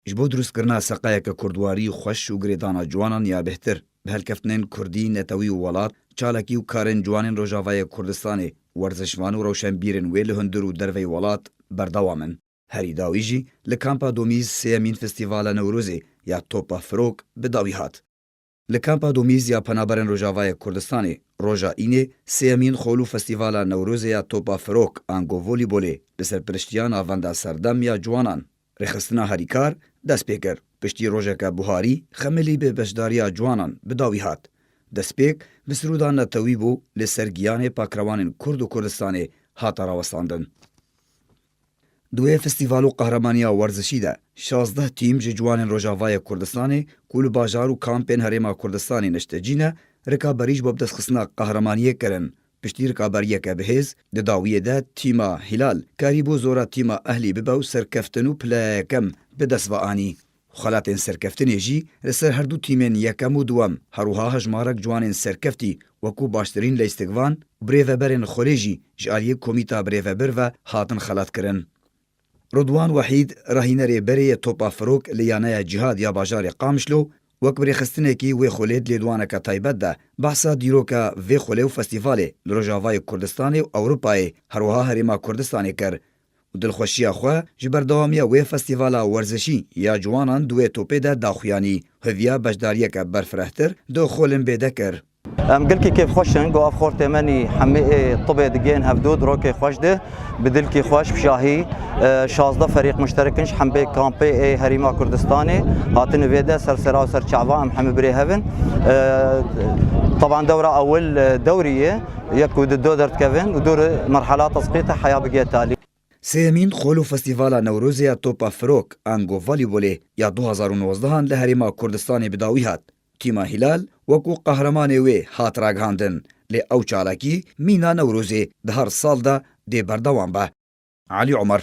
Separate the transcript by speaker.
Speaker 1: Ji bo drustkirina seqayeke kurdwarî xweş û girêdana ciwanan ya bêhtir, bi helkeftinên kurdî, netewî û welat, çalakî û karên ciwanên Rojavayê Kurdistanê, werzişvan û rewşenbîrên wê li hundir û derveyî welat berdewam in. Herî dawî jî li Kampa Domîz sêyemîn Festîvala Newrozê ya Topa Firok bi dawî hat. Li Kampa Domîz ya Penaberên Rojavayê Kurdistanê roja Înê sêyemîn Xolû Festîvala Newrozê ya Topa Firok ango Volîbolê bi serpiriştiya Navenda Serdem ya Ciwanan, Rêxistina Herîkar dest pê kir. Piştî rojeke buharî xemilî bi beşdariya ciwanan bi dawî hat. Destpêk bi siroda netewî bû li ser giyanê pakrewanên Kurd û Kurdistanê hate rawestandin. Di wê festîval û qehremanîya werzişî de şazdeh tîm ji ciwanên Rojavayê Kurdistanê ku li bajar û kampên Herêma Kurdistanê niştecî ne, rikaberî ji bo bidestxistina qehremaniyê kirin. Piştî rikaberiyeke bihêz, di dawiyê de tîma Hîlal karîbû zora tîma Ehlî bibe û serkeftin û pila ya yekem bi dest ve anî. Xelatên serkeftinê jî li ser herdu tîmên yekem û duwem herwiha hejmarek ciwanên serkeftî wekû baştirîn leystikvan û birêveberên xwelê jî ji aliyê Komîta Birêvebir ve hatin xelatkirin. Ridwan Wehîd rahînerê berê yê Topa Firok li Yaneya Cihad ya bajarê Qamişlo wek birêxistinekî wê xwelê di lêdwaneke taybet de behsa dîroka vê xwelê û festîvalê li Rojavayê Kurdistanê û Ewropayê herwiha Herêma Kurdistanê kir û dilxweşiya xwe ji berdewamiya wê festîvala werzişî ya ciwanan di wê topê de daxuyanî û hêviya beşdariyeke berfirehtir di Xolimbê de kir. Em gelkî
Speaker 2: kêfxweş in ku ev xortê me nî hemî ê tibê digihên hevdû di rokê xweş de bi dilkî xweş bi şahî şazdeh ferîq muşterik in ji hembê kampê ê Herêma Kurdistanê hatin û vê de ser sera û ser çava em hemî birêhev in. Taban dewra ewil dewrî ye. Yek ku di do derdikevin û dûrî merhelata spî te heya bigê talî. Sêyemîn xol
Speaker 1: û festîvala Newrozê ya Topa Firok, Ango Volîbolê, ya du hezar û nozdehan li Herêma Kurdistanê bi dawî hat. Tîma Hîlal wekû qehremanê wê hat ragihandin, lê ew çalakî mîna Newrozê di her sal de dê berdewam be. Elî Omer.